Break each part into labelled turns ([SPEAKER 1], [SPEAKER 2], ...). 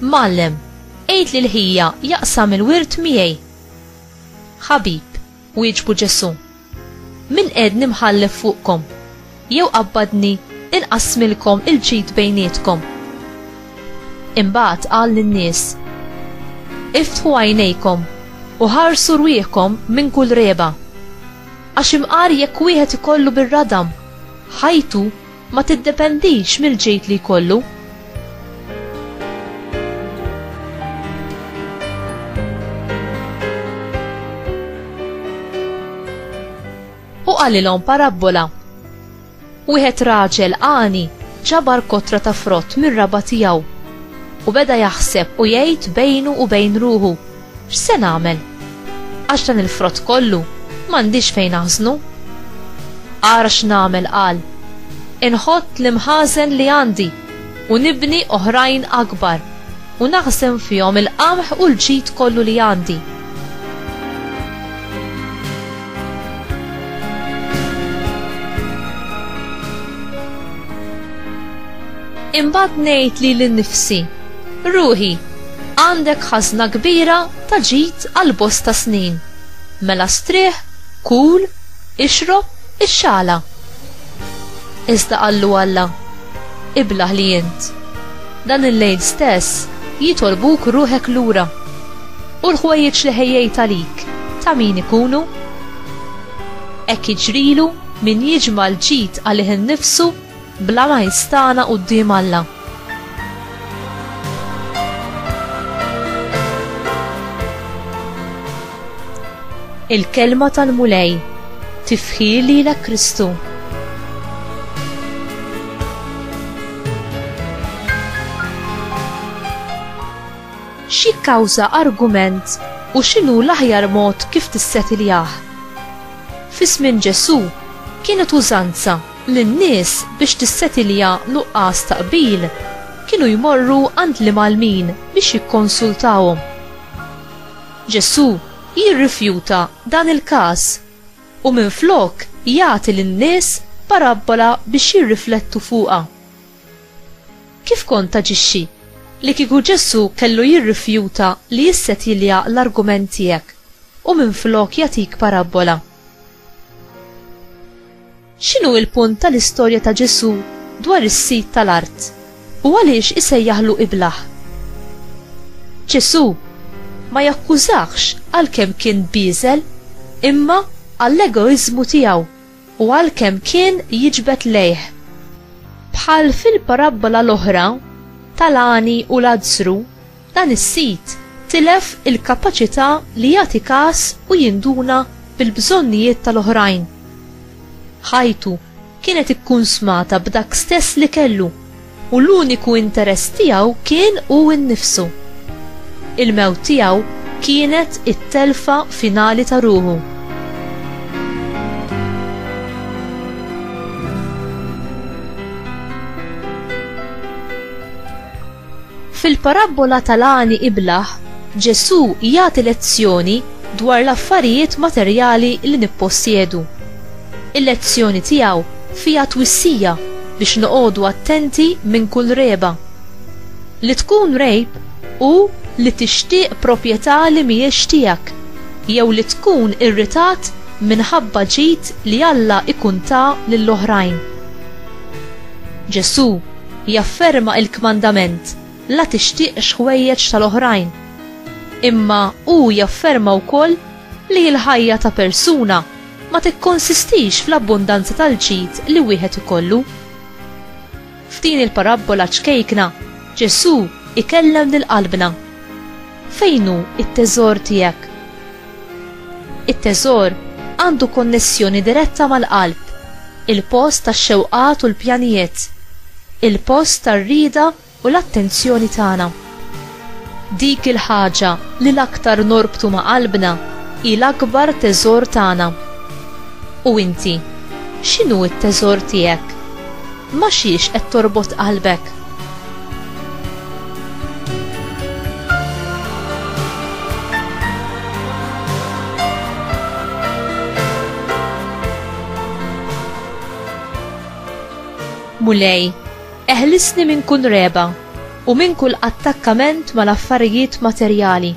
[SPEAKER 1] Mgħallem, għid lil ħija jaqsam il-wirt miegħi. Ħabib, wieġbu Ġesù, min qiegħdni mħallef fuqkom, jew qabbadni inqassmilkom il-ġid bejnietkom? Imbagħad qal lin-nies, Iftħu għajnejkom u ħarsu rwieħkom minn kull reba. Għax imqar jekk wieħed ikollu bir-radam ħajtu ma tiddependix mill-ġid li jkollu. u qalilhom parabbola. Wieħed raġel għani ġabar kotra ta' frott mir-raba tiegħu u beda jaħseb u jgħid bejnu u bejn ruħu X'se nagħmel? Għax dan il-frott kollu m'għandix fejn aħżnu. Ara x'nagħmel qal, Inħott l-imħażen li għandi u nibni oħrajn akbar u naħżen fihom il-qamħ u l-ġid kollu li għandi. Imbagħad ngħid li l-nifsi, ruħi, għandek ħazna kbira ta' ġid għal bosta snin. Mela strieħ, kul, ixrob, ixxala. Iżda qallu Alla, iblaħ li int. Dan il-lejl stess jitolbuk ruħek lura. U l-ħwejjeġ li ħejjejt għalik, ta' min ikunu? Hekk jiġrilu min jiġma' l-ġid għalih innifsu bla ma jistagħna quddiem Alla. Il-Kelma tal-Mulej, Tifħir lilek Kristu. X'jikkawża argument u x'inhu l-aħjar mod kif tissettiljah? Fi żmien Ġesù, kienet użanza li n-nies biex tissettilja nuqqas ta' qbil kienu jmorru għand l-imgħallmin biex jikkonsultahom. Ġesù jirrifjuta dan il-każ u minflok jagħti lin-nies parabbola biex jirriflettu fuqha. Kif kont taġixxi li kieku Ġesù kellu jirrifjuta li jissetilja l-argument tiegħek u minflok jagħtik parabbola? X'inhu l-punt tal-istorja ta' Ġesù dwar is-sid tal-art, u għaliex isejjaħlu iblah? Ġesù ma jakkużahx għalkemm kien bieżel, imma għall-egoiżmu tiegħu. u għalkemm kien jiġbed lejh. Bħal fil-parabbola l-oħra tal-għani u Lazzru, dan is-sid tilef il-kapaċità li jagħti kas u jinduna bil-bżonnijiet tal-oħrajn. Ħajtu kienet ikkunsmata b'dak stess li kellu. u l-uniku interess tiegħu kien hu nnifsu. Il-mewt tiegħu kienet it-telfa finali ta' ruħu. Fil-parabbola tal-għani iblaħ, Ġesù jagħti lezzjoni dwar l-affarijiet materjali li nippossjedu. Il-lezzjoni tiegħu Fiha twissija biex noqogħdu attenti minn kull regħba. Li tkun rejb hu li tixtieq propjetà li mhijiex tiegħek jew li tkun irritat minħabba ġid li Alla jkun ta lil oħrajn. Ġesù jafferma l-kmandament la tixtieqx ħwejjeġ tal-oħrajn. Imma hu jafferma wkoll li l-ħajja ta' persuna ma tikkonsistix fl-abbundanza tal-ġid li wieħed ikollu. F'din il-parabbola ċkejkna, Ġesù ikellem lil qalbna. Fejn hu t-teżor tiegħek? It-teżor għandu konnessjoni diretta mal-qalb, il-post tax-xewqat u l-pjanijiet, il-post tar-rieda u l-attenzjoni tagħna. Dik il-ħaġa li l-aktar norbtu ma' qalbna hi l-akbar teżor tagħna. U inti, x'inhu t-teżor tiegħek? Ma' xiex qed torbot qalbek? Mulej, Eħlisni minn kull regħba u minn kull attakkament mal-affarijiet materjali.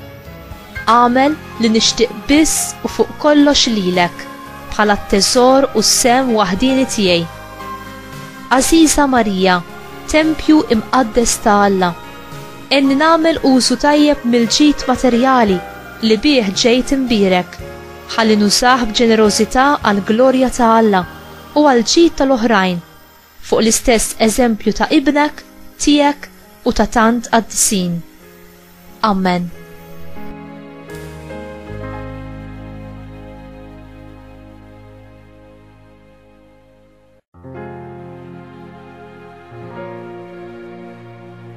[SPEAKER 1] Agħmel li nixtieq biss u fuq kollox lilek bħala t-teżor u s-sehem waħdieni tiegħi. Għażiża Marija, tempju imqaddes ta' Alla, għenni nagħmel użu tajjeb mill-ġid materjali li bih ġejt imbierek, ħalli nużah b'ġenerożità għall-glorja ta' Alla u għall-ġid tal-oħrajn. fuq l-istess eżempju ta' ibnek, tiegħek u ta' tant qaddisin. Ammen.